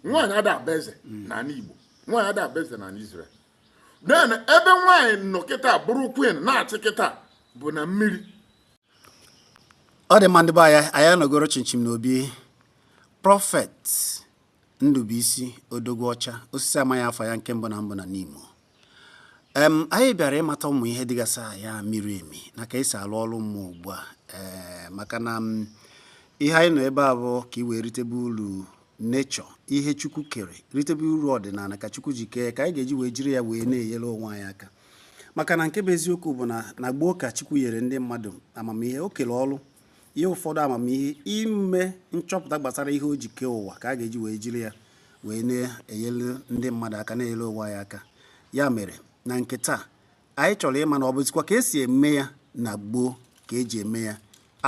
nwaanyị ada abụ eze hmm. na anị Igbo nwaanyị ada abụ eze na anị Izrel then ebe nwaanyị nọ kịta bụrụ queen na-achị kịta bụ na mmiri ọ dị mma ndị be anyị anyị anọgoro chịmchịm n'obi prọfet Ndubuisi Odogwu Ọcha osisi amaghị afọ ya nke mbụ na mbụ na n'Imo em anyị bịara ịmata ụmụ ihe dịgasị ya miri emi na ka esi alụ ọrụ mmụọ ugbu a ee maka na ihe anyị nọ ebe a bụ ka ị wee ritebe uru nature ihe chukwu kere ritebe uru ọdịnala ka chukwu ji kee ka anyị ga-eji wee jiri ya wee na-enyere onwe anyị aka maka na nke bụ eziokwu bụ na na gboo ka chukwu nyere ndị mmadụ amamihe o kere ọrụ ihe ụfọdụ amamihe ime nchọpụta gbasara ihe o ji kee ụwa ka a ga-eji wee jiri ya wee na-enyere ndị mmadụ aka na-enyere ụwa ya aka ya mere na nke taa anyị chọrọ ịma na ọ bụzikwa ka esi eme ya na gboo ka eji eme ya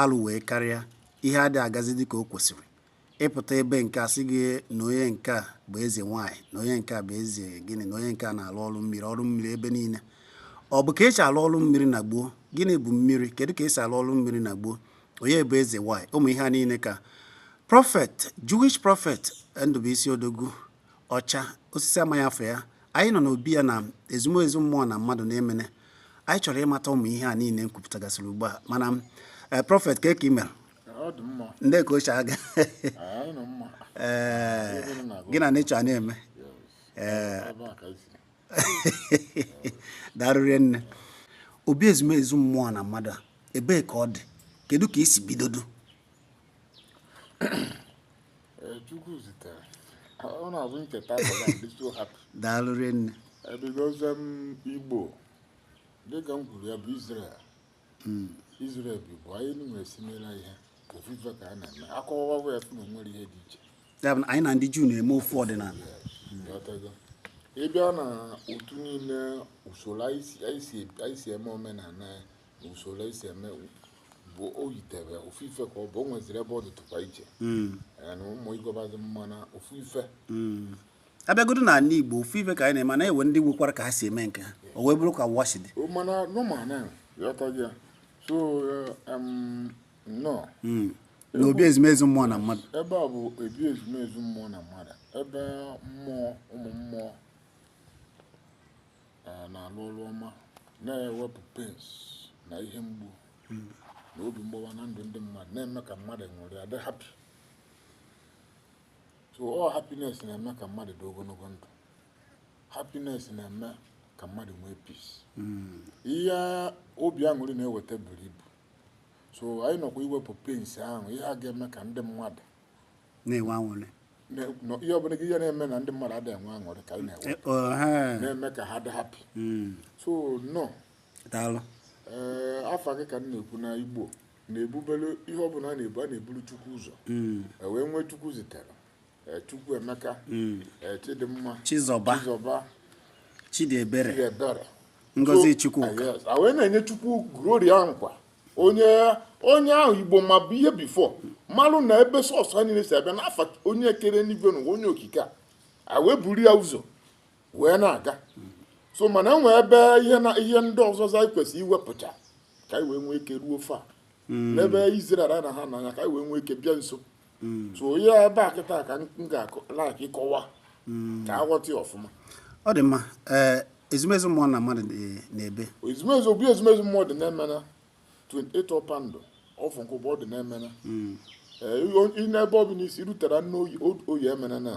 alụ wee karịa ihe adịghị agazi dị ka o kwesịrị ịpụta ebe nke a sị gị na onye nke a bụ eze nwaanyị na onye nke a bụ eze gịnị na onye nke a na-alụ ọrụ mmiri ọrụ mmiri ebe niile ọ bụ ka esi alụ ọrụ mmiri na gboo gịnị bụ mmiri kedu ka esi alụ ọrụ mmiri na gboo onye bụ eze nwaanyị ụmụ ihe a niile ka prọfet jewish prọfet Ndubuisi Odogwu Ọcha osisi amaghị afọ ya anyị nọ n'obi ya na ezumezu mmụọ na mmadụ na Emene anyị chọrọ ịmata ụmụ ihe a niile m kwupụtagasịrị ugbu a mana eh, prọfet ka ị mere ndị ka ochie aga ee gị na nature na-eme ee daalụ rinne obi ezumezu mmụọ na mmadụ a ebee ka ọ dị kedu ka i si bidodo daalụ rinne ebidozie m Igbo dịka m kwuru ya bụ Israel hmm. Izrel ebe bụ anyị nwe similar ihe ofu ife ka a na-eme akọwawa bụ efu na o nwere ihe dị iche anyị na ndị Juu na-eme ofu ọdịnala ị bịa na otu niile usoro anyị si eme omenala na usoro anyị si eme bụ o yitere ofu ife ka ọ bụ o nweziri ebe ọ dịtụkwa iche hmm. na ụmụ ịgọbazi mma na ofu ife hmm. abịagodo na anị Igbo ofu ife ka anyị na-eme na e nwe ndị nwekwara ka ha si eme nke ha o wee bụrụ ka wa shi dị mana normal na ị ghọtago ya so um, nọ hmm. na obi ezumezu mmụọ na mmadụ ebe a bụ obi ezumezu mmụọ na mmadụ ebe mmụọ ụmụ mmụọ uh, na-alụ ọrụ ọma na-ewepụ pains na ihe mgbu hmm. na obi mgbawa na ndụ ndị mmadụ na-eme ka mmadụ were adị happy so ọ happiness na-eme ka mmadụ dị ogologo ndụ happiness na-eme ka mmadụ nwee peace hmm. ihe obi aṅụrị na-eweta buru ibu so anyị nọkwa iwepụ pains ahụ ihe a ga-eme ka ndị mmadụ na-enwe aṅụrị ihe ọbụla bụ ihe na-eme na ndị mmadụ adịghị enwe aṅụrị ka anyị na-ewepụ eh, oh, na-eme ka ha dị happy hmm. so no daalụ ee eh, afa gị ka m na-ekwu na igbo na-ebubelu ihe ọ bụla a na-ebu a na-eburu chukwu ụzọ mm. e wee nwee chukwuzitere e, chukwuemeka mm. e, chidimma chizọba chizọba chidiebere chidiebere ngozichukwu a wee na-enye chukwu glory nkwa onye onye ahụ igbo ma ihe before malụ na ebe source ha niile si abịa na ọ onye kere enigwe n'ụwa onye okike a wee buru ya ụzọ wee na-aga so mana e nwee ebe ihe na ihe ndị ọzọ anyị kwesịrị iwepụcha ka anyị wee nwee ike ruo fa hmm. n'ebe Israel na ha n'anya ka anyị wee nwee ike bịa nso hmm. so onye ebe a kịta ka m ga-ala ka ịkọwa hmm. ka a ghọta ya ọfụma ọ dị mma eh, ezumezu mmụọ na mmadụ n'ebe ezumezu obi ezumezu mmụọ dị na Emene 28 Ọpandụ off Nkwubor ọ dị na Emene eh, n'ebe ọ bụla i si rutara n'Oye Emene na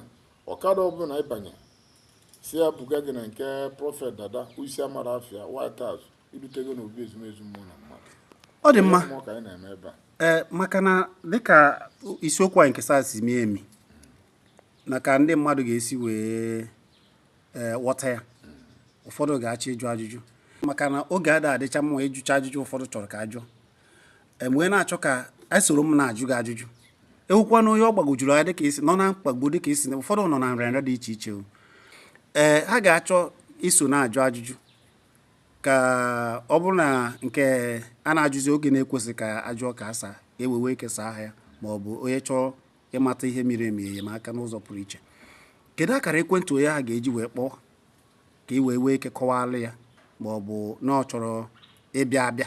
ọkada ọbụla ị banye sị ya buga gị na nke prophet dada isi amara afịa white house i rutego n'obi ezumezu mmụọ na mmadụ ọ dị mma ka anyị na-eme ebe a ee maka na dịka isiokwu anyị nke taa si mie emi na ka ndị mmadụ ga-esi wee e, ghọta ya ụfọdụ ga-achọ ịjụ ajụjụ maka na oge ada adịcha mma ịjụcha ajụjụ ụfọdụ chọrọ ka a jụọ wee na-achọ ka a soro m na-ajụ gị ajụjụ e nwekwanụ onye ọ gbagwojuru anya dịka i si nọ na mkpagbu dịka i si na ụfọdụ nọ na nrịanrịa dị iche iche ee ha ga-achọ iso na-ajụ ajụjụ ka ọ bụrụ na nke a na-ajụzi oge na-ekwesị ka a jụọ ka a saa e wee nwee ike saa ha ya ma ọ bụ onye chọọ ịmata ihe miri emi enyemaka n'ụzọ pụrụ iche kedu akara ekwentị onye ahụ ga-eji wee kpọọ ka ị wee nwee ike kọwara ya ma ọ bụ na ọ chọrọ ịbịa abịa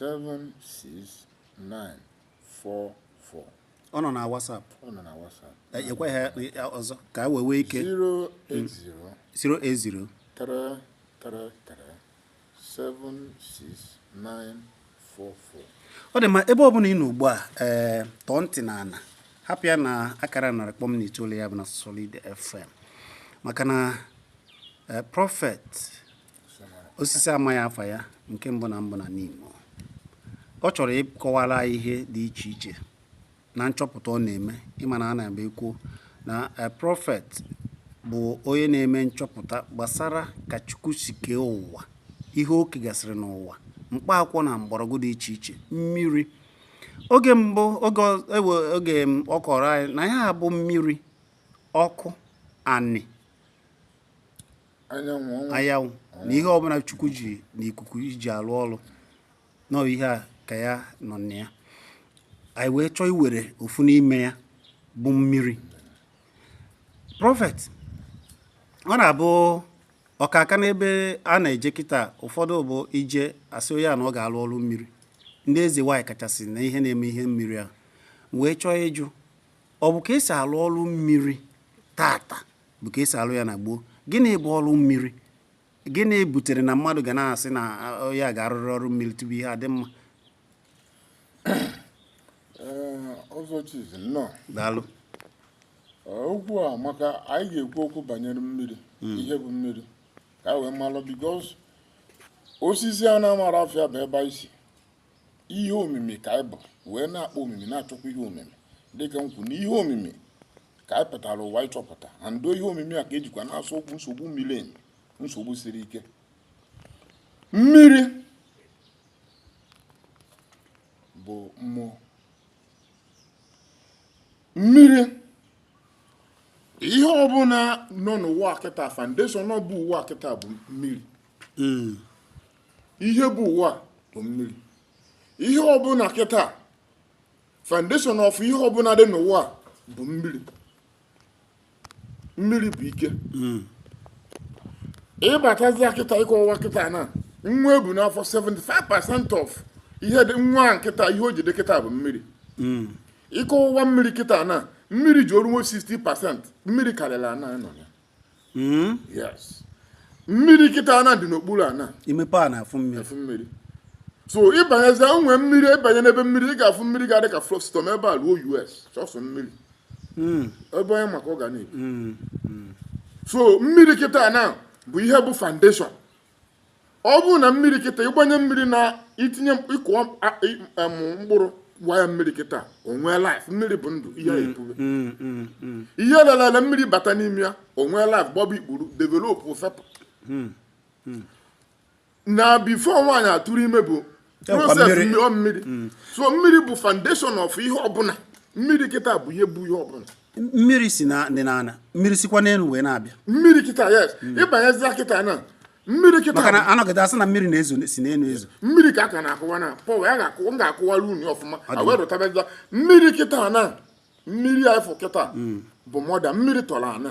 76944 ọ nọ na WhatsApp ọ nọ na WhatsApp E- kwughachikwa ya ọzọ ka a wee nwee ike 080 080 333-76944 ọ dị mma ebe ọ bụla ị nọ ugbu a ee tọọ ntị na ala hapụ ya na akara narị kpọm na itoolu ya bụ na solid fm maka na ee, prophet osisi amaghị afa ya nke mbụ na mbụ na Nimo ọ chọrọ ịkọwara ihe dị iche iche na nchọpụta ọ na-eme ị ma na a na-eme ekwu na eh, Prophet bụ onye na-eme nchọpụta gbasara ka Chukwu si kee ụwa ihe o kegasịrị n'ụwa mkpa akwụkwọ na mgbọrọgwụ dị iche iche mmiri oge mbụ oge oge ọ kọrọ anyị na ya bụ mmiri ọkụ anị anyanwụ na ihe ọbụla chukwu ji na ikuku iji alụ ọrụ na ihe a ka ya nọ na ya anyị wee chọọ iwere ofu n'ime ya bụ mmiri Prophet ọ na-abụ ọkaka n'ebe a na-eje kịta ụfọdụ bụ i jee a sị onye a na ọ ga-alụ ọrụ mmiri ndị eze nwaanyị kachasị na ihe na-eme ihe mmiri anyị wee chọọ ịjụ ọ bụ ka esi alụ ọrụ mmiri tata bụ ka esi alụ ya na gboo gịnị bụ ọrụ mmiri gịnị butere na mmadụ ga na-asị na ya ga-arụrụ ọrụ mmiri tupu ihe adị mma daalụ okwu a maka anyị ga-ekwu okwu banyere mmiri hmm. ihe bụ mmiri ka wee malụ because osisi a na-amarọ afa ya bụ ebe anyị si ihe omimi ka anyị bụ wee na-akpọ omimi na-achọkwa ihe omimi dịka m kwu na ihe omimi ka anyị pụtara ụwa ịchọpụta and ihe omimi a ka ejikwa na-asolvekwu nsogbu miri emi nsogbu siri ike mmiri bụ mmụọ mmiri ihe ọbụla nọ n'ụwa kịta foundation of ụwa kịta bụ mmiri hmm. ihe bụ ụwa bụ mmiri ihe ọbụla kịta foundation of ihe ọbụla dị n'ụwa bụ mmiri mmiri bụ ike hmm. ịbatazi kịta ịkọwa kịta na nwa ebu n'afọ 75% of ihe dị nwa kịta ihe o ji dị kịta bụ mmiri hmm. ịkọwa mmiri kịta na mmiri ji oruo 60% mmiri karịrị ana nọ ya hmm? mmiri kịta na-adị n'okpuru ana imepe ana afụ mmiri so ịbanyezi onwe mmiri ịbanye n'ebe mmiri ị ga-afụ mmiri ga-adị ka from ebe a ruo US sọsọ mmiri hmm. ebe onye maka ọ ga na-ebi hmm. so mmiri kịta na bụ ihe bụ foundation ọ bụ na mmiri kịta ịgbanye mmiri na itinye ịkụọ mkpụrụ wụa ya mmiri kịta o nwee life mmiri bụ ndụ ihe mm, epube mm, mm, ihe lelele mmiri bata n'ime ya o nwee life gbọba ikpuru develop fepụ na before nwaanyị atụrụ ime bụ process mmiri mmiri mm. so mmiri bụ foundation of ihe ọbụla mmiri kịta bụ ihe bụ ihe ọbụla mmiri si na dị n'ana mmiri sikwa n'elu wee na-abịa mmiri kịta yes mm. ịbanyezi kịta na mmiri kịta maka na a nọgide a sị na mmiri na-ezo si n'elu ezo mmiri ka a ka na-akọwa na pọ ya ga-akọwa m ga-akọwara unu ọfụma wee rụtabazia mmiri kịta na mmiri a ị fụ kịta mm. bụ mother mmiri tọrọ ana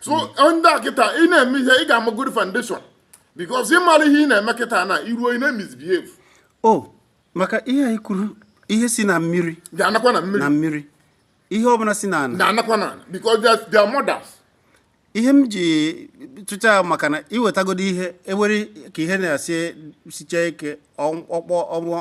so ndị a kịta ị na-eme ihe ị ga-amagodi foundation because ị maro ihe ị na-eme kịta na i ruo ị na-emisbehave o oh, maka ihe anyị kwuru ihe si na mmiri ga-anakwa na mmiri na mmiri ihe ọbụla si n'ana na-anakwa n'ana because they are mothers ihe m ji tụcha maka na i wetagodu ihe e were ka ihe na-esisicha ike ọkpọ ọnwa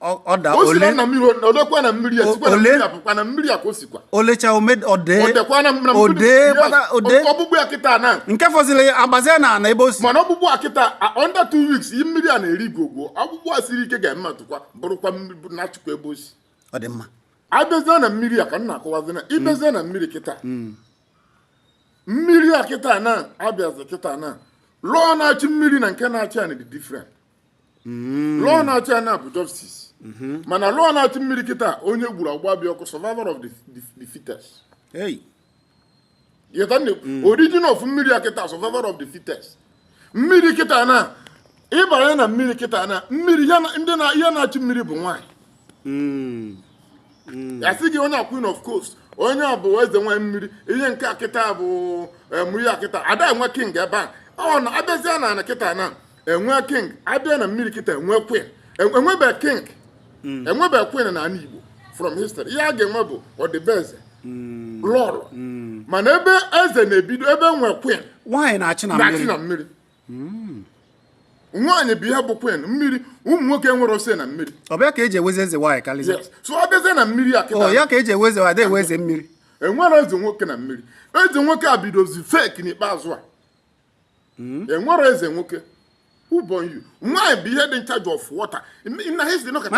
o le na mmiri o dekwa na mmiri e sikwa na mmiri apụkwa na mmiri a ka o sikwa o lecha o dee o dekwa na mmiri o dee o dee ọgbụgbụ ya kịta na nke fọziri agbazie na ana ebe o si mana ọgbụgbụ a kịta under two weeks yi mmiri a na-eri gwogwo ọgbụgbụ a siri ike ga-eme atụkwa bụrụkwa nachikwa ebe o si ọ dị mma a bịazie na mmiri a ka m na-akọwazi na ị bịazie na mmiri kịta hmm. mmiri a kịta na a bịazi kịta na law na-achị mmiri na nke na-achị ana dị different mm. law na-achị ana bụ justice mm-hmm. mana law na-achị mmiri kịta onye gburu agba bịa ọkụ survival of the fittest mm. origin of mmiri a kịta survival of the fittest mmiri kịta na ịbanye na mmiri kịta na mmiri ihe na-achị mmiri bụ nwaanyị mm. Mm. a sị gị onye a queen of coast onye a bụ eze nwaanyị mmiri ihe nke a kịta bụ eh, mmiri a kịta ada enwe king ebe a ọ na a bịazie n'ana kịta na enwe king a bịa na mmiri kịta enwe queen enwebe king hmm. enwebe queen n'ana Igbo from history ihe a ga-enwe bụ ọdịbeze hmm. lọọlọ hmm. mana ebe eze na-ebido ebe enwe queen nwaanyị na-achị na mmiri nwaanyị bụ ihe bụ queen mmiri ụmụ nwoke enwero say na mmiri ọ bụ ya ka e ji enwezi eze nwaanyị karịa so ọ bịazie na mmiri a kịta ọ ya ka e ji enwezi ada enwe eze mmiri enwero eze nwoke na mmiri eze nwoke a bidozi fake n'ikpeazụ a hmm? enwero eze nwoke ọ bụ only nwaanyị bụ ihe dị in charge of water na history nọkọta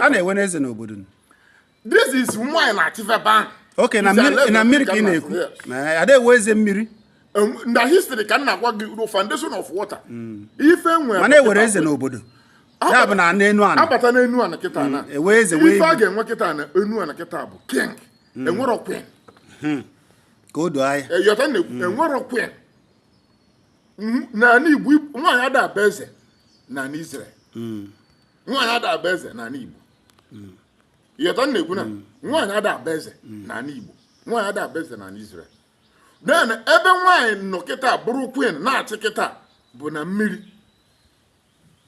a na-enwenụ eze n'obodo this is nwaanyị na-achịfe ebe ahụ okay na mmiri ka ị na-ekwu ada enwe eze mmiri na history ka m na-agwa gị foundation of water hmm. ife e nwere mana e nwere eze n'obodo ya bụ na n'enu ana a bata n'enu ana kịta ana mm, ife a ga-enwe kịta na enu ana kịta bụ king mm. enwero queen hmm. ka o doo anya ị ghọta na hmm. enwero queen n'ana Igbo nwaanyị ada abụ eze n'ana Israel hmm. nwaanyị ada abụ eze n'ana Igbo hmm. ghọta na-ekwu na nwaanyị ada abụ eze n'ana Igbo nwaanyị ada abụ eze n'ana Israel then ebe nwaanyị nọ kịta bụrụ queen na-achị kịta bụ na mmiri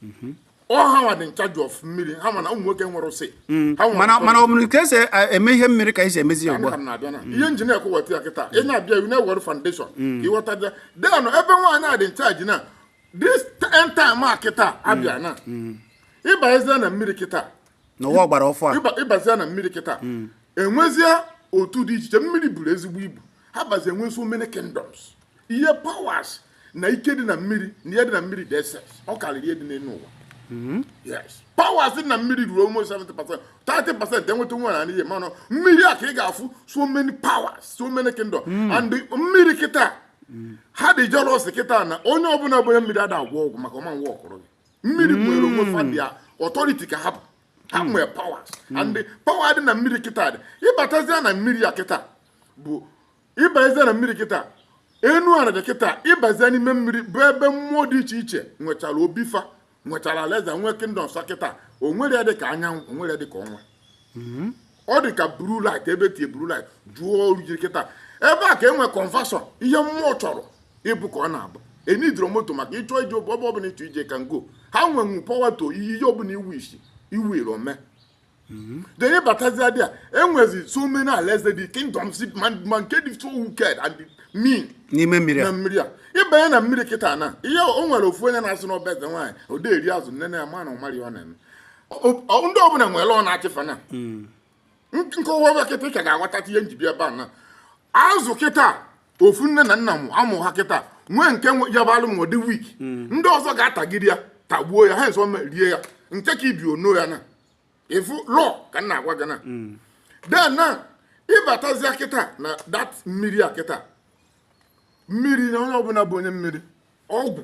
mhm. ọ ha nwa dị in charge of mmiri ha mana ụmụ nwoke nwere ụsị mm. mana ọ bụrụ ka esi e, eme ihe mmiri ka esi emezi ya ugbu a mm. ihe m ji na-ekwuwata ya kịta ị na-abịa iwu na-ewere foundation ka mm. ịghọta then ebe nwaanyị a dị in charge na this end time a kịta abịa na ịbazie na mmiri kịta n'ụwa ọgbara ọfụ a ịbazie na mmiri kịta enwezie otu dị iche iche mmiri buru ezigbo ibu ha bazi enwe so many kingdoms ihe powers na ike dị na mmiri na ihe dị na mmiri dị excess ọ karịrị ihe dị n'elu ụwa hmm? yes powers dị na mmiri ruru almost 70 percent 30 percent enweta nwa na n'ihe mana mmiri a ka ị ga-afụ so many powers so many kingdoms hmm. and mmiri kịta hmm. ha dị jealous kịta na onye ọbụla bụ onye mmiri ada agwọ ọgwụ maka ọma nwa ọkụrụ gị mmiri nwere onwe fa their authority ka ha bụ ha nwee powers and power dị na mmiri kịta then ịbatazia na mmiri a kịta bụ ịbazie na mmiri kịta enu ana dị kịta ịbazie n'ime mmiri bụ ebe mmụọ dị iche iche nwechara obi fa nwechara alaeze nwee kingdoms ha kịta o nwerọ ihe dịka anyanwụ o nwerọ ihe dịka ọnwa hmm. ọ dị ka blue light ebe e tie blue light jụọ oru jiri kịta ebe a ka e nwee conversion ihe mmụọ chọrọ ịbụ ka ọ na-abụ ị needrọ moto maka ịchọ ije ebe ọbụla ịchọ ije can go ha nwenwu power to ihe ihe ọbụla iwu isi iwu iro mee Mm-hmm. Then ịbatazia there, e nwezi so many alaeze the kingdoms ma nke dị so wicked and mean. N'ime mmiri a. Na mmiri a. Ịbanye na mmiri kịta na ihe o nwere ofu onye na-asị na ọ bụ eze nwaanyị o dee eri azụ nne na ya ma na ọ marọ ihe ọ na-eme. Ndị ọbụla nwere onye na-achị fa na. Mm. M kọwa ebe a kịta ị ka ga-aghọta ihe m ji bịa ebe a na. Azụ kịta ofu nne na nna na-amụ ha kịta nwee nke ya bụlụ na ọ dị weak hmm. ndị ọzọ ga-atagide ya tagbuo ya ha so rie ya nke ka ibe enoo ya na ịfụlụ ka m na-agwa gị na hmm. then na ịbatazia kịta na that mmiri a kịta mmiri na onye ọbụla bụ onye mmiri ọgwụ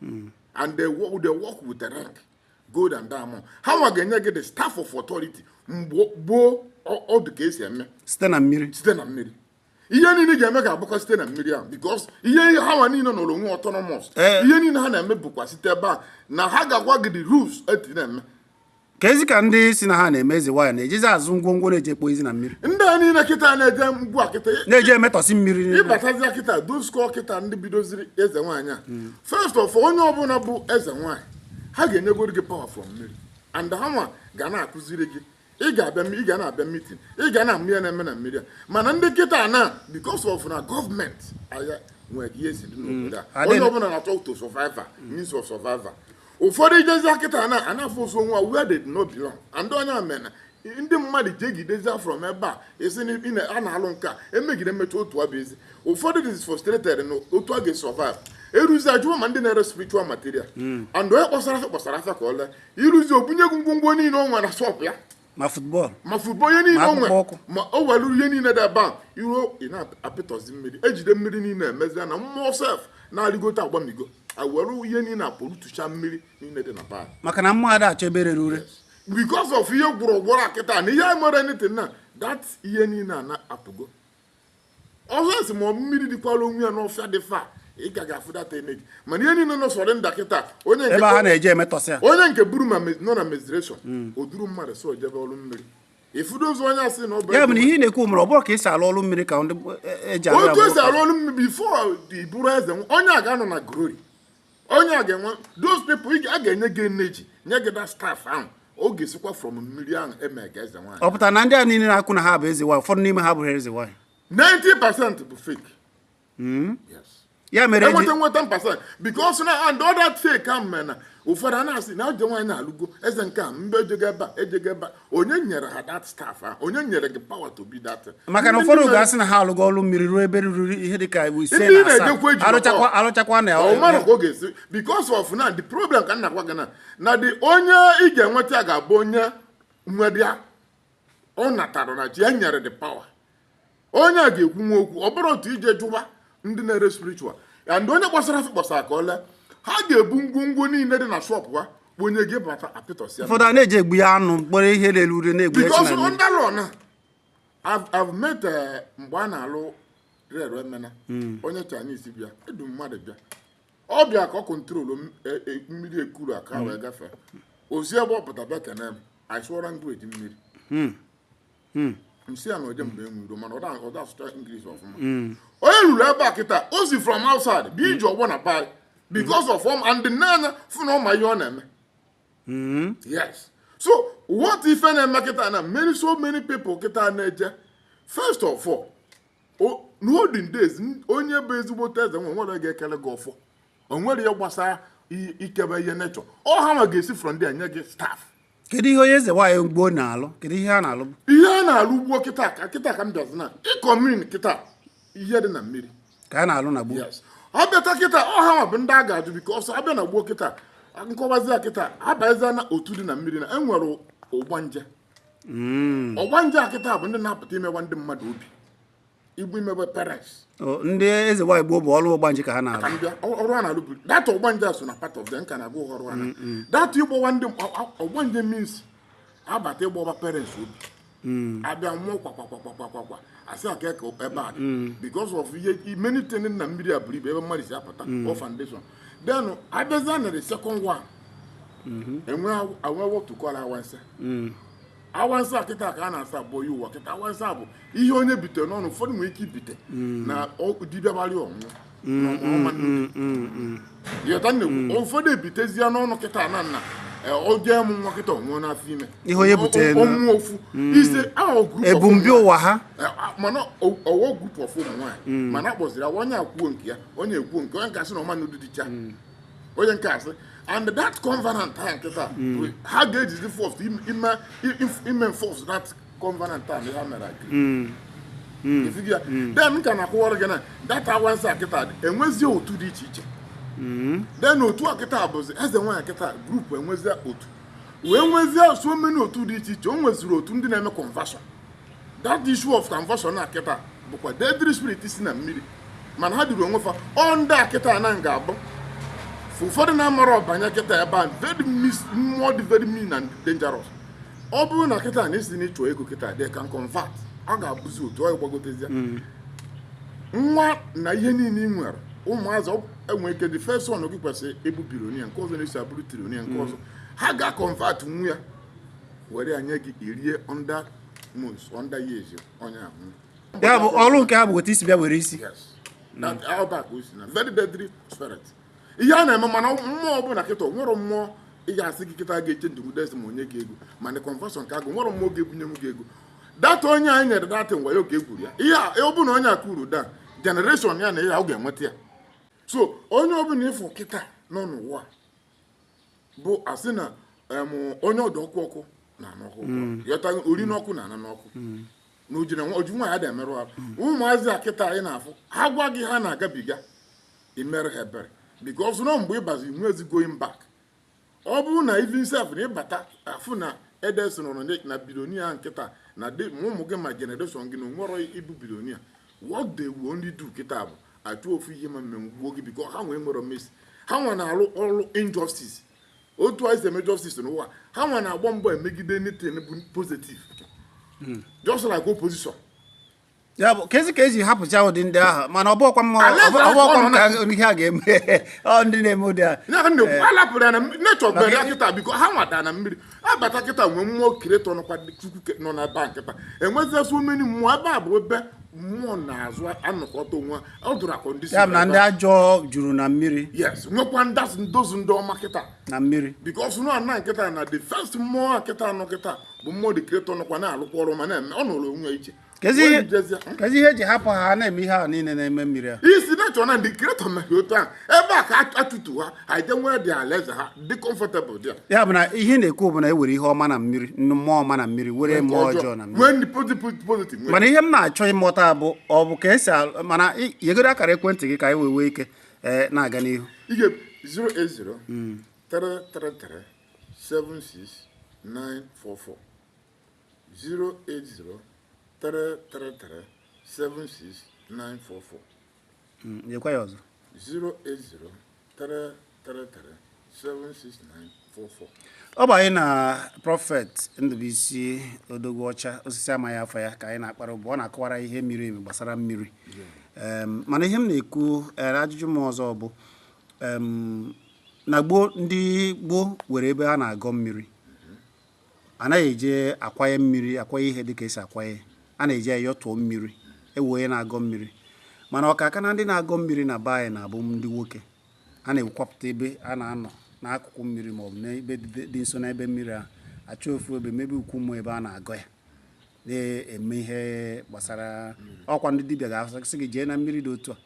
hmm. and they work, they work with the rank gold and diamond ha nwa ga-enye gị the staff of authority mgbe gboo ọ dụ ka esi eme site na mmiri site na mmiri ihe niile ị ga-eme ga-abụkwa site na mmiri ahụ because ihe ha nwa niile nọrọ onwe autonomous eh. ihe niile ha na-eme bụkwa site ebe a na ha ga-agwa gị the rules etu ị na-eme ka ezi ka ndị si na ha na-eme eze nwaanyị na-ejezi azụ ngwongwo na-eje ekpozi na mmiri ndị a niile kịta na-eje ngwa kịta na-eje emetọsị mmiri ịbatazia kịta doskọ kịta ndị bidoziri eze nwaanyị a hmm. first of onye ọbụla bụ eze nwaanyị ha ga-enyegoro gị power from mmiri and ha nwa ga na-akụziri gị ị ga-abịa ị ga na-abịa meeting ị ga na-amụ ihe a na-eme na mmiri a mana ndị kịta na because of na gọọmenti anyị nwere ihe si dị n'obodo a hmm. onye ọbụla na-achọ to survive means of survival ụfọdụ ijezi kịta na a na-afụzi onwe where they no belong and ọ nya mere na ndị mmadụ jegidezia from ebe a esi na ị na- a na-alụ nke a emegide emechaa otu a bụ ezi ụfọdụ dị frustrated na otu a ga-esurvive eruzi ajụwa ma ndị na-ere spiritual material and onye kpọsara afịa kpọsara afịa ka o lee iruzi obunye gị ngwongwo niile o nwere na shop ya ma football ma football ihe niile o nwere ma o welu ihe niile dị ebe a iruo ị na-apịtọzi mmiri ejide mmiri niile emezi na mmụọ sef na-arịgote agbamigo ewere ihe niile pollutecha mmiri niile dị n'ebe a maka na mmụọ ada achọ ebe rere ure because of ihe gburugburu kịta na ihe mere anything na that ihe niile a na-apụgo ọ sọ sị ma ọ bụ mmiri dịkwara onwe ya n'ọfịa dị far ị ka ga-afụ that energy mana ihe niile nọ surround a kịta ebe ha na-eje emetọsịa onye nke buru ma me- nọ na menstruation Hmm. o duru mmadụ so jebe ọrụ mmiri ịfụdo ụzọ onye asị na ọ bụ ya bụ na ihe ị na-ekwu mere ọ bụrụ ka esi alụ ọrụ mmiri ka ndị e- eji arụ ya otu bụ- esi arụ ọrụ mmiri before ị bụrụ eze nwa- onye a ga-anọ na glory onye a ga-enwe those people a ga-enye gị energy nye gị that staff ahụ ọ ga-esikwa from mmiri ahụ eme gị eze nwaanyị ọ pụtara na ndị a niile na-ekwu na ha bụ eze nwaanyị ụfọdụ n'ime ha abụrọ eze nwaanyị 90 percent bụ fake hmm? yes ya mere enweta nweta 10 percent because na and ọ that fake ahụ mere na ụfọdụ a na-asị na eze nwaanyị na alụgo eze nke a mbe ejego ebe a ejego ebe a onye nyere ha that staff ahụ onye nyere gị power to be that maka na ụfọdụ ga-asị na ha alụgo ọrụ mmiri ruo ebe ruru ihe dị ka ise na asaa arụchakwa na ọ mara ka ọ ga-esi because of na the problem ka m na-agwa gị na na the onye ị ga-enweta ga-abụ onye nwedịa ọ natara nature nyere the power onye a ga-ekwu nwa okwu ọ bụrụ otu ije jụwa ndị na-ere spiritual and onye kpọsara afịa kpọsara ka o lee ha ga-ebu ngwongwo niile dị na shop ha kponye gị bata apịtọsịa ụfọdụ a na-eji egbu ya anụ mkpọrọ ihe lelu ure na-egbu ya because chinamị. under law na I've- I've met eh, mgbe a na-alụ rere emena onye Chinese bịa edu mmadụ bịa ọ bịa ka ọ control m- e- e- mmiri ekuru aka wee gafee ozi ebe ọ pụta bịa kene m asụọ language mmiri hmm. m sị ya na oje mgbe enwero mana ọ da asụcha English ọfụma hmm. onye ruru ebe a kịta o si from outside bụ iji ọgbọ na pai because of ọm and the n'anya fụ na ọ ma ihe ọ na-eme hmm. yes so what ife na-eme kịta na many so many people kịta na-eje first of all n'olden days onye bụ ezigbote eze nwe nwere ga-ekele gị ọfọ o nwere ihe gbasara ikebe ihe nature ọ ha ma ga-esi from there nye gị staff kedu ihe onye eze nwaanyị gboo na-alụ kedu ihe a na-alụ ihe a na-alụ gboo kịta ka kịta ka m bịazi na ịkọ mmiri kịta ihe dị na mmiri ka a na-alụ na gboo ọ bịata kịta ọ hanwa bụ ndị a ga-ajụ because abịa na gboo kịta nkọwazi ya kịta abazi na otu dị na mmiri na enwere ọgbanje hmm. ọgbanje a kịta bụ ndị na-apụta imewa ndị mmadụ obi igbu imegbu parents ndị eze nwaanyị gboo bụ ọrụ ọgbanje ka ha na-arụ ọrụ a na-arụ buru data ọgbanje so na part of them ka na-arụ ọrụ ha mm, mm. data ịgbawa ndị ọgbanje means abata ịgbawa parents obi mm. abịa nwụọ kwakwakwakwakwakwa asị aka ka ebe a because of ihe many things na mmiri a buru ibu ebe mmadụ si apụta ọ foundation then abịazịa na the second one mm-hmm. enwe what to call awansa awansa a kịta ka a na-asa abụọ ya ụwa kịta awansa bụ ihe onye bite n'ọnụ ụfọdụ nwere ike ibite mm. na dibịa gbalị ọnwụ yọta nnekwu ụfọdụ ebitezie n'ọnụ kịta na nna e, o je mụ nwa kịta ọ nwụọ n'afọ ime ihe onye butere ọnwụ ofu mm. ise ebumbi ụwa ha e, mana ọ wụ group of ụmụ nwaanyị mm. mana akpọziri onye ekwuo nke ya onye ekwuo nke onye gasị na ọma na ụdị dịcha onye nke asị and that covenant ha kịta hmm. ha ga-ejizi force ime enforce that covenant a ha mere agree hmm. hmm. then m ka na-akọwara gị na that awansa a kịta enwezie otu dị iche iche then otu a kịta bụzi eze nwaanyị kịta group enwezie otu wee nwezie so many otu dị iche iche o nweziri otu ndị na-eme conversion that issue of conversion na kịta bụkwa deadly spirit si na mmiri mana ha duru onwe fa ọ ndị a kịta na ga-abụ ụfọdụ na-amara ọbanye kịta ebe a very mmụọ dị very mean and dangerous ọ bụrụ na kịta na ị sị na ị chọ ego kịta they can convert ọ ga-abụzi otu ọ gbagotezi mm. nwa na ihe niile ị nwere ụmụazị e nwere ike the first one gị kwesịrị ịbụ billionaire nke ọzọ na-eso abụrụ trillionaire nke mm. ọzọ ha ga-convert nwa ya were ya nye gị irie under months under years onye ahụ ya bụ ọrụ nke ha bụ otu isi bịa were isi very deadly spirit ihe a na-eme mana mmụọ ọbụla kịta nwere mmụọ ị ga-asị gị kịta ga-eche ndụ des ma nye gị ego mana conversion ka agụ nwere mmụọ ga-ebunye m gị ego data onye anyị nyere data ngwa ya oge e kwuru ya ihe ọ bụla onye a kwuru that generation ya na ihe ọ ga-enweta ya so onye ọbụla ị fụ kịta nọ n'ụwa bụ asị na em, onye ọ dụ ọkụ ọkụ na-anụ ọkụ yọta ori n'ọkụ na-ana n'ọkụ na oji na nwa- oji nwayọọ ada emerụ ahụ ụmụazị a kịta anyị na-afụ ha gwa gị ha na-agabiga i mere ha ebere because na mgbe ị bazi enwezi going back ọ bụrụ na even self na ị bata afụ na edes nọrọ na- na billionaire a kịta na dị ma ụmụ gị ma generation gị na o nwerọ ịbụ billionaire what they will only do kịta bụ achọ ofu ihe ma megbuo gị because ha nwa enwerọ mercy ha nwa na-alụ ọrụ injustice otu anyị si eme justice n'ụwa ha nwa na-agba mbọ emegide anything bụ positive hmm. just like opposition ya bụ ka ezi ka eji hapụcha ụdị ndị ahụ mana ọ bụkwa mma ọbụkwa m ka ihe a ga-eme ọ ndị na-eme ụdị a alapụrụ ya na nature bere ya kịta because ha nwata na mmiri abata kịta nwee mmụọ creator nọkwa chukwu nọ na ebe a kịta enwezia so many mmụọ ebe a bụ ebe mmụọ na-azụ anọkọta onwe ọ dụrụ a condition ya bụ na ndị ajọ juru na mmiri yes nwekwa ndasị ndozu ndị ọma kịta na mmiri because nọ na kịta na the first mmụọ kịta nọ kịta bụ mmụọ the creator nọkwa na-alụkwa ọrụ ma na-eme ọ nọrọ onwe iche Kezi ihe- Webijezie. kezi ihe eji hapụ ha ha na-eme ihe ahụ niile na-eme mmiri a isi na-achọ na the creator na otu a ebe a ka atụtu ha ha je nwee dị alaeze ha dị comfortable dị ya bụ na ihe ị na-ekwu bụ na e were ihe ọma na mmiri nnu- mmụọ ọma na mmiri were mmụọ ọjọọ na mmiri nwee ndị positive nwee mana ihe m na-achọ ịmụta bụ ọ bụ ka esi al- mana ị- nyegodu akara ekwentị gị ka anyị wee nwee ike ee, na-aga n'ihu ị ga 080 333 76944 08033376944 Mm, nyekwa ya ọzọ 08033376944 ọ bụ anyị na Prophet Ndụbuisi Odogwu Ọcha osisi amaghị afọ ya ka anyị na-akpara ụbụ ọ na-akọwara ihe miri emi gbasara mmiri Em, mana ihe m na-ekwu eh, ajụjụ m ọzọ bụ em, na gboo ndị gboo were ebe ha na-agọ mmiri a naghị eji akwanye mmiri akwanye ihe dịka esi akwanye a na-eji ayọtụọ mmiri ewu onye na-agọ mmiri mana ọkaka na ndị na-agọ mmiri na be anyị na-abụ ndị nwoke a na-ewepụta ebe a na-anọ n'akụkụ mmiri maọbụ n'ebe dị nso n'ebe mmiri a achọ ofu ebe mebe okwu mmụọ ebe a na-agọ ya na-eme ihe gbasara ọkwa ndị dibịa ga-asị gị jee na mmiri dị otu a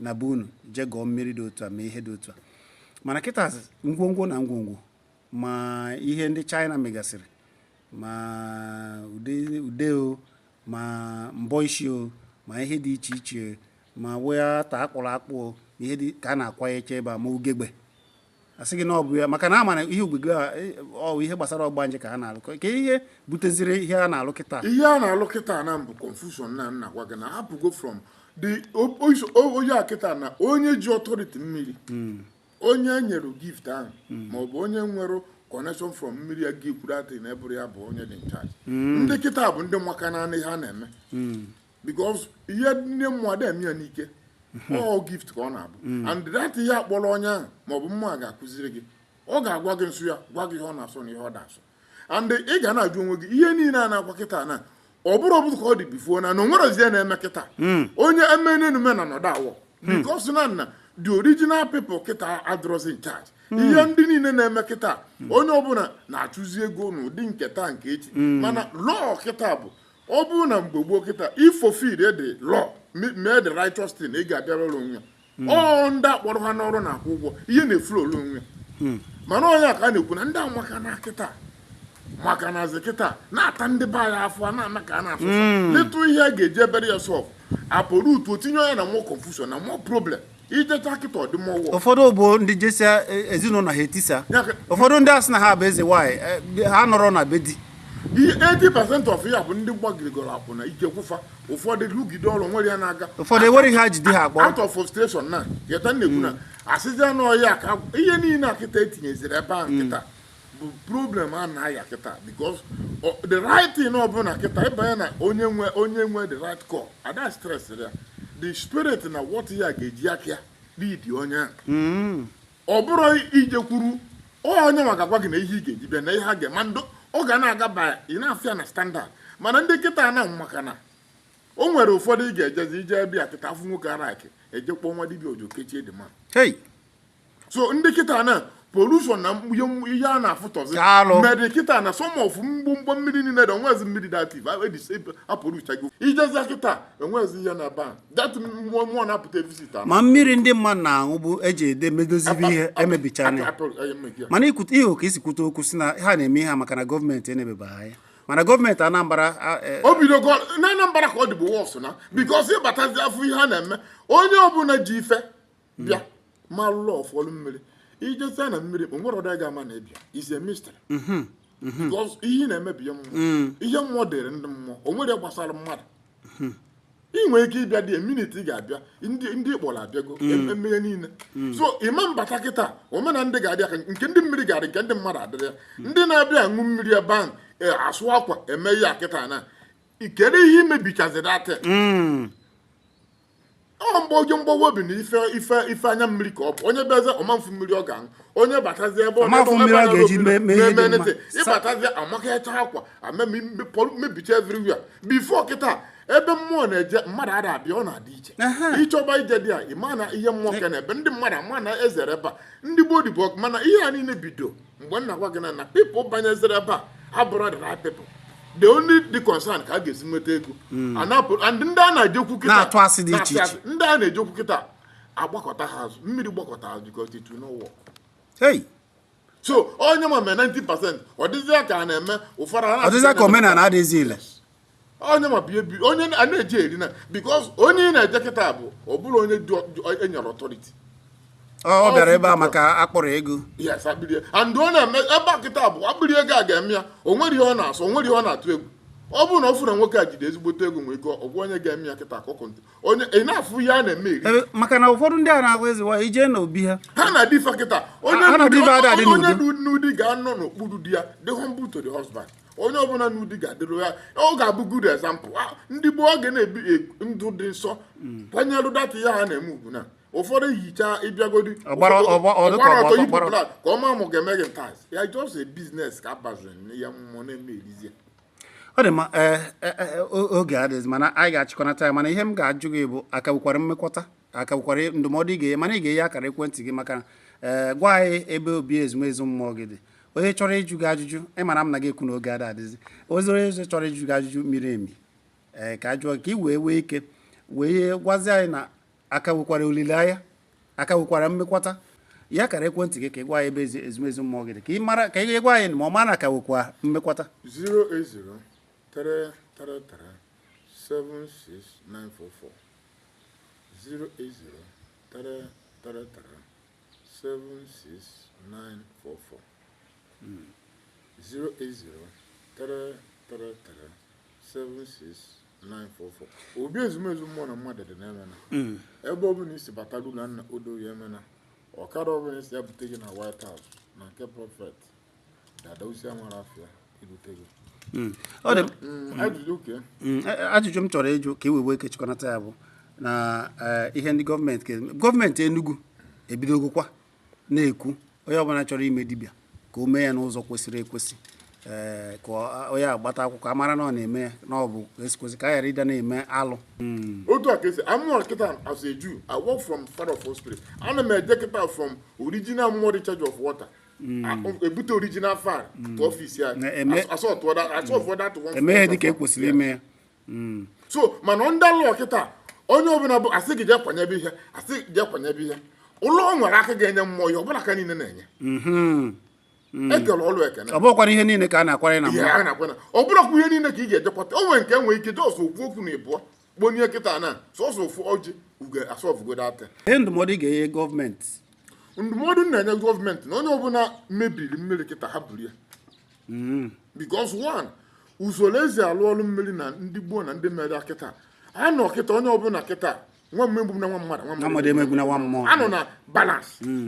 na be unu jee gọọ mmiri dị otu a mee ihe dị otu a mana kịta ngwongwo na ngwongwo ma ihe ndị China megasịrị ma ude o ma mbọ isi o ma ihe dị iche iche ma nwata akpụrụ akpụ o ihe dị ka a na-akwanyecha ebe a ma ugegbe asị gị na ọ bụ ya maka na ama na ihe ugegbe, ọwụ ihe gbasara ọgbanje ka a na-alụ ka ihe buteziri ihe a na-alụ kịta ihe a na-alụ kịta na-abụ confusion na m na-agwa gị na hapụgo from the onye a kịta na onye ji authority mmiri hmm. onye e nyere gift ahụ hmm. ma ọ bụ onye nwere connection from mmiri ya gị kwuru atị na ebụrụ ya bụ onye dị in charge hmm. ndị kịta bụ ndị maka naanị ha na-eme hmm. because ihe ndị mmụọ a da-eme ya n'ike ọ gift ka ọ na-abụ and that ihe akpọrọ onye ahụ ma ọ bụ mmụọ ga-akụziri gị ọ ga-agwa gị nso ya gwa gị ihe ọ na-asọ na ihe ọ da-asọ and ị ga na-ajụ onwe gị ihe niile a na-akwa kịta na ọ bụrụ ọbụrụ ka ọ dị before na na o nwerọzi ihe na-eme kịta hmm. onye emenenume na nọdụ awọ hmm. because na nna the original people kịta adịrọzi in charge hmm. ihe ndị niile na-eme kịta onye ọbụla na-achụzi ego n'ụdị nke taa nke echi mana law kịta bụ ọ bụrụ na mgbe gboo kịta ị fulfill the law mee the righteous thing ị ga-abịara ụlọ onwe hmm. ọ ndị akpọrọ ha n'ọrụ na-akwụ ụgwọ ihe na-efuru ole onwe hmm. mana onye a ka a na-ekwu na ndị amaka na kịta maka na azị kịta na-ata ndị be anyị afọ a na-ana ka a na-afụ hmm. letụ ihe a ga-eji ebere ya solve apụrụ utu o tinye onye na more confusion na more problem ijecha kịta ọdịmọwụ ụfọdụ bụ ndị jesia e, ezinụlọ ha etisa ụfọdụ ndị asị na ha bụ eze nwaanyị e, ha nọrọ na be di 80% of ya bụ ndị gbagirigoro akwụna ijekwu fa ụfọdụ rụgide ọrụ were ya na-aga ụfọdụ enwere ihe ha ji di ha akpọrọ out of frustration na yeta na-ekwu na asịzi anụ ọhịa ka ihe niile a kịta etinyeziri ebe a kịta bụ problem a na-aya kịta because ọ- the right thing ọ bụ na kịta ịbanye na onye nwe onye nwe the right call ada stress ya the spirit na what ya ga-eji aka ya lead onye ahụ ọ bụrụ ijekwuru onye nwa ga-agwa gị na ihe ị ga-eji bịa na ihe ha ga-eme ndị ọ ga na-aga ba ị na-afịa na standard mana ndị kịta na maka na o nwere ụfọdụ ị ga-ejezi ije be ya kịta afụ nwoke ara akị ejekpọ nwa dibia ojo kechie dị mma so ndị kịta na pollution na ihe a na-afụtọzi mmadụ kịta na some of mgbomgbọ mmiri niile dị onwezi mmiri dị active apụrụchago ijezi kịta enwezi ihe na ban ma mmiri ndị mmadụ na-aṅụbu ejide medozibe ihe emebichara mana ịhụ ka isi kwute okwu sị na ha na-eme ihe maka na gọọmenti enebeba ha anya mana gọọmenti Anambra e, o bido na Anambra ka ọ dịbụ worse na because ịbatazi afụ ihe a na-eme onye ọbụla ji ife bịa ma lụlọ ọfọlụ mmiri ijezi na mmiri o nwere ọdọ ga-ama na ịbịa is a mystery mhm, mhm. ihe na-emebi mmụọ mm. ihe mmụọ dịrị ndị mmụọ o nwere gbasara mmadụ mhm. ị nwere ike ịbịa the minute ị ga-abịa ndị ndị kpọrọ abịago mm. emeghe niile mm. so ịma mbata kịta omena ndị ga-abịa ka nke ndị mmiri ga-adị nke ndị mmadụ adịrị ya mm. ndị na-abịa aṅụ mmiri ebe ahụ e, asụ akwa eme ya kịta na kedu ihe imebichazi data ọ mgbe oge mgbawa obi na ife ife ife anya mmiri ka ọ bụ onye bịazie ọ ma-afụ mmiri ọ ga-aṅụ onye batazi ebe ọ na-eme ịbatazi amakacha akwa mebicha everywhere before kịta ebe mmụọ na-eje mmadụ ada abịa ọ na-adị iche ịchọba ije there ịma na ihe mmụọ ka na-ebe ndị mmadụ ama na-ezere ebe a ndị gboo dịbụ ọkụ mana ihe a niile bido mgbe m na-agwa gị na na people banyezere ebe a abụrọ the right people the only dị concern ka a ga-esi nweta ego hmm. and ndị a na-ejekwu kịta na-atụ asị dị iche iche ndị a na-ejekwu kịta agbakọta ha azụ mmiri gbakọta azụ because it will not work. Hey. so onye ma mee 90 percent ọ dịzịa ka a na-eme ụfọdụ ọ dịzịa ka omenala adịghịzi ile onye ma bie bi onye a na-eji eri na because onye ị na-eje kịta bụ ọ bụrụ onye dị ọ- dị- enyere authority ọ bịara ebe a maka akpịrị ego yes akpịrị ego and ọ na-eme ebe a kịta bụ akpịrị ego a ga-eme ya o nwere ihe ọ na-asọ o nwere ihe ọ na-atụ egwu ọ bụrụ na ọ fụrụ na nwoke a jide ezigbote ego nwee ego ọgwụ onye ga-eme ya kịta akụkụ ntị onye ị na-afụ ihe a na-eme eri Ebe- maka na ụfọdụ ndị a na-agwa eze nwaanyị ijee n'obi ha ha na difa kịta onye Ha na n'ụdị- difa ada adị onye n'udo. nụ di ga-anọ n'okpuru di ya dị humble to the husband onye ọbụla nụ di ga-adịrị ya ọ ga-abụ good example ah, ndị gboo oge na-ebi e, ndụ dị nsọ kwanyere that ihe ha na-eme ugwu na ụfọdụ ehicha ịbịagodi ọ gbara ọtọ yipụ blak ka ọ ma mụ ga-eme gị ntas ya just a business ka abaziri ya mmụọ na-eme erizi ya ọ dị mma eh, eh, eh, oge adịghị mana anyị ga-achịkọnata ya mana ihe m ga-ajụ gị bụ a ka nwekwara mmekwata a ka nwekwara ndụmọdụ ị ga-enye mana ị ga-enye akara ekwentị gị maka gwa anyị ebe obi ezumezu mmụọ gị dị onye chọrọ ịjụ gị ajụjụ ị mara m na gị ekwu na oge ada adịzi ozi onye ọzọ chọrọ ịjụ gị ajụjụ miri emi ee ka a jụọ ka ị wee nwee ike wee gwazie anyị na a ka nwekwara olileanya a ka nwekwara mmekwata nye akara ekwentị gị ka ị gwa anyị ebe ezumezu mmụọ gị dị ka ị mara ka ị gwa anyị ma ọ ma na a ka nwekwa mmekwata 08033376944 08033 76944 08033376944 obi ezumezu mmụọ na mmadụ dị n'Emene ebe ọ bụla ị si bata ruo na old Oye Emene ọkada ọ bụla ị sị ya bute gị na White House na nke prophet Mm. Mm, mm, ajụjụ m chọrọ ịjụ ka e nwee ike chịkọnata ya bụ na eh, ihe ndị gọọmenti gọọmenti Enugu ebidogokwa na-ekwu onye ọbụla chọrọ ime dibịa ka o mee ya n'ụzọ kwesịrị ekwesị eh, ka onye a gbata akwụkwọ a mara na ọ na-eme ya na ọ bụ esikwesị ka a ghara ịdị na-eme alụ otu a ka e si amụọ kịta as a Jew I work from father of spirit ana m eje kịta from original mmụọ the charge of water ebute original fire to ọfisi ya asọfọ that e mee ihe dịka ekwesịrị ime ya so mana ndị alụ kịta onye ọbụla bụ asị gị jee kwanyebe ihe asị gị jee kwanyebe ihe o nwere aka ga-enye mmụọ ya ọ bụrọ aka niile na-enye Mm. ekele ọlụ ekele ọ bụrọkwa ihe niile ka a na-akwanye na mma ọ bụrọkwa ihe niile ka ị ga-ejekwata o nwere nke nwee ike just ofu okwu na ịbụọ kponye kịta na sọsọ ofu ọjị ugo asọfụgo that ihe ndụmọdụ ị ga-enye gọọmenti ndụmọdụ m na-enye gọọmenti na onye ọbụla mebiri mmiri kịta ha buru ya hmm. because one usoro e si alụ ọrụ mmiri na ndị gboo na ndị mere kịta a nọ kịta onye ọbụla kịta nwa mmụọ emegbuna nwa mmadụ nwa mmadụ emegbuna nwa mmụọ anọ na balance hmm.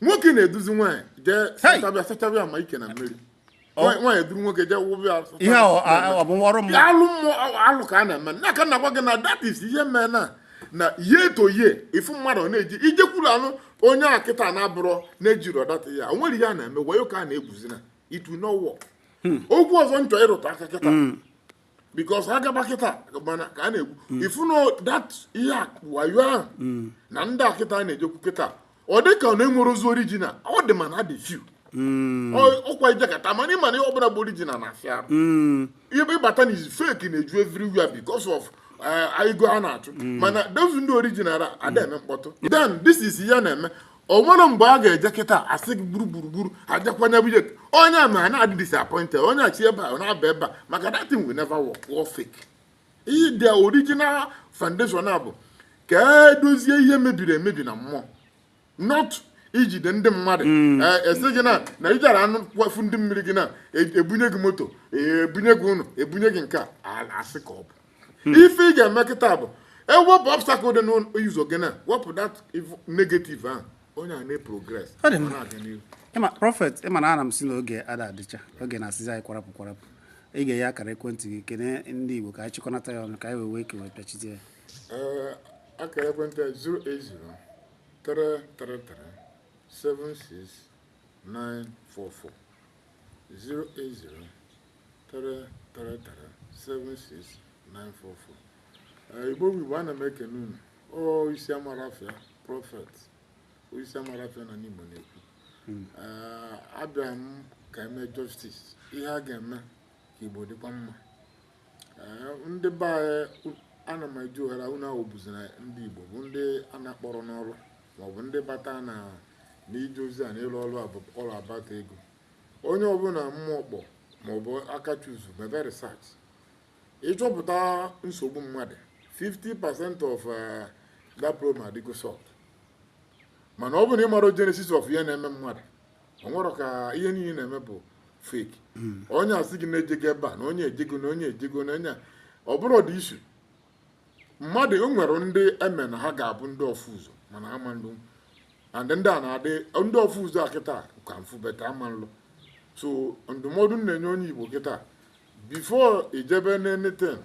nwoke na-eduzi nwaanyị jee sachabịa sachabịa ma ike na mmiri nwaanyị duru nwoke jee wụbịa ihe ọ bụ ọrụ mmụọ alụ mmụọ alụ ka a na-eme n'aka na gwa gị na that is ihe mee na na year to year ị fụ mmadụ ọ na-eji ijekwuru anụ onye a kịta na-abụrọ na-ejiri ọdata ya o nwere ihe a na-eme wayo ka a na-egwuzi na it will not work hmm. okwu ọzọ m chọ ịrụta aka kịta hmm. because ha gaba kịta mana ka a na-ekwu mm. ị fụ na that ihe wayo ahụ mm. na ndị a kịta na-ejekwu kịta ọ dị ka ọ na enwerọzi original ọ dị mana ha dị few Mm. ọkwa ị jekata mana ịma na ihe ọbụla bụ original na-afịa arụ mm. ebe ịbata na is fake na-eju everywhere because of eh, ego a na-achụ mm. mana those ndị original ada eme mkpọtụ then this is ihe na-eme o nwere mgbe a ga-eje kịta a sị gị gburu gburugburu ajakwanye but onye a ma na-adị disappointed onye a si ebe a na-aba ebe a maka that thing will never work ọ fake the original foundation a bụ ka edozie ihe mebiri emebi na mmụọ not ijide ndị mmadụ mm. eh, a sị gị na na ijara anụ kwafu ndị mmiri gị na e, ebunye gị moto e, ebunye gị ụlọ ebunye gị nke a asị ka ọ bụ Hmm. ife ị ga-eme kịta bụ ewepụ obstacle dị n'ụzọ gị na wepụ that negative ahụ onye a na-progress ị ma prophet ị ma na ana m asị na oge ada adịcha oge na-asịzi anyị kwarapụ kwarapụ ị ga-enye akara ekwentị gị kene ndị Igbo ka anyị chịkọnata ya ọnụ ka anyị wee wee kewe pịachite ya eh, akara ekwentị 080 333 76944 08033376944 Igbo bụ Igbo ana m ekene unu o isi amara afịa prophet o isi amara afịa na ndị Igbo na-ekwu abịa m ka eme justice ihe a ga-eme ka Igbo dịkwa mma ndị be anyị ana m eji ohere unu ahụ bụzi na ndị Igbo bụ ndị a na-akpọrọ n'ọrụ maọbụ ndị bata na n'ije ozi a na ịrụ ọrụ ọrụ abata ego onye ọbụla mmụọ kpọ maọbụ aka chuzu mebe research ịchọpụta nsogbu mmadụ 50% of eh, that problem adịgo solved mana ọ bụ na ị mara genesis of ihe na-eme mmadụ o were ka ihe niile na-eme bụ fake hmm. onye asị gị na ejego ebe a na onye ejego na onye ejego na onye ọ bụrụ dị issue mmadụ o nwere ndị eme na ha ga-abụ ndị ọfụ ụzọ mana ha ama nlụ and ndị a na-adị ndị ọfụ ụzọ a kịta ka afụ but ha ama nlụ so ndụmọdụ m na-enye onye Igbo kịta before i jebe n'anything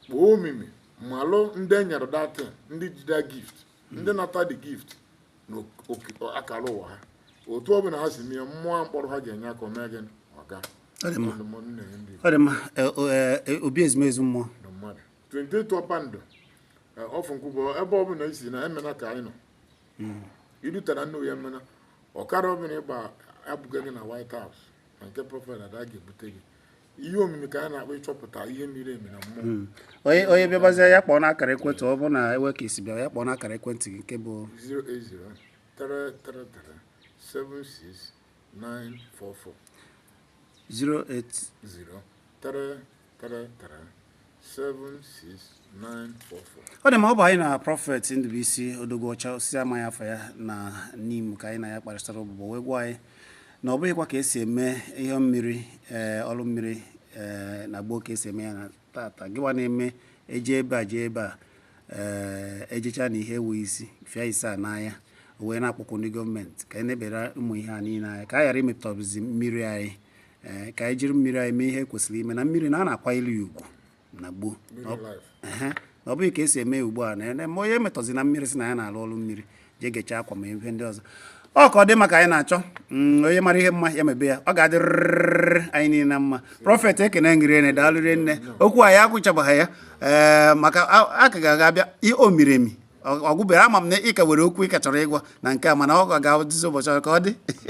kpoo omimi malụ ndị enyere that thing ndị jide gift ndị nata the gift na oke- akara ụwa ha otu ọ bụla ha si mee ya mmụọ a m kpọrọ aha ga-enye aka o mee gịnị ọ ga-adị mma. ndụmọdụ na-enye ndị Igbo ọ dị mma e, o, e, e, obi ezumezu mmụọ na mmadụ 28 Ọpandụ e, off Nkwụbọ ebe ọ bụla i si na Emene ka anyị nọ i rutara n'Oye Emene ọkada ọ bụla ị gba ebuga gị na White House na nke prọfet ada ga-ebute gị ihe omimi ka a na-akpọ ịchọpụta ihe miri emi na mmụọ hmm. onye onye bịabazie ya kpọọ n'akara ekwentị ọ bụrụ na enwe ka esi bịa ya kpọọ n'akara ekwentị gị nke bụ 08033376944 08033376944 ọ dị mma ọ bụ anyị na prọfet Ndubuisi Odogwu Ọcha osisi amaghị afa ya na Nimo ka anyị na ya kparịtara ụbụbọ o wee gwa anyị na ọ bụghịkwa ka esi eme ihe mmiri eh, ọrụ mmiri eh, na gboo ka esi eme ya na tata gịwa na-eme eje ebe a jee ebe a eh, ejecha na ihe enwe isi fịa ise a n'anya o wee na-akpọku ndị gọọmenti ka e nebara ụmụ ihe a niile anya ka a ghara imetọzi mmiri anyị ee ka anyị jiri mmiri anyị mee ihe kwesịrị ime na mmiri na a na-akwanyelu ya ugwu na gboo ọ bụghị ka esi eme ya ugbu a na ma onye emetọzina mmiri sị na ya na-alụ ọrụ mmiri jee gechaa akwa ma ihe ndị ọzọ ọ ka ọ dị maka anyị na-achọ mm, onye mara ihe mma ya mebe ya ọ ga-adịrịrị anyị niile na mma prọfet ekene m gị rinne daalụ rinne okwu anyị ekwuchabaghị ya ee eh, maka a ka ga-aga abịa o miri emi ọ gwụberọ ama m na ị ka nwere okwu ị ka chọrọ ịgwa na nke a mana ọ ga-adịzi ụbọchị ka ọ dị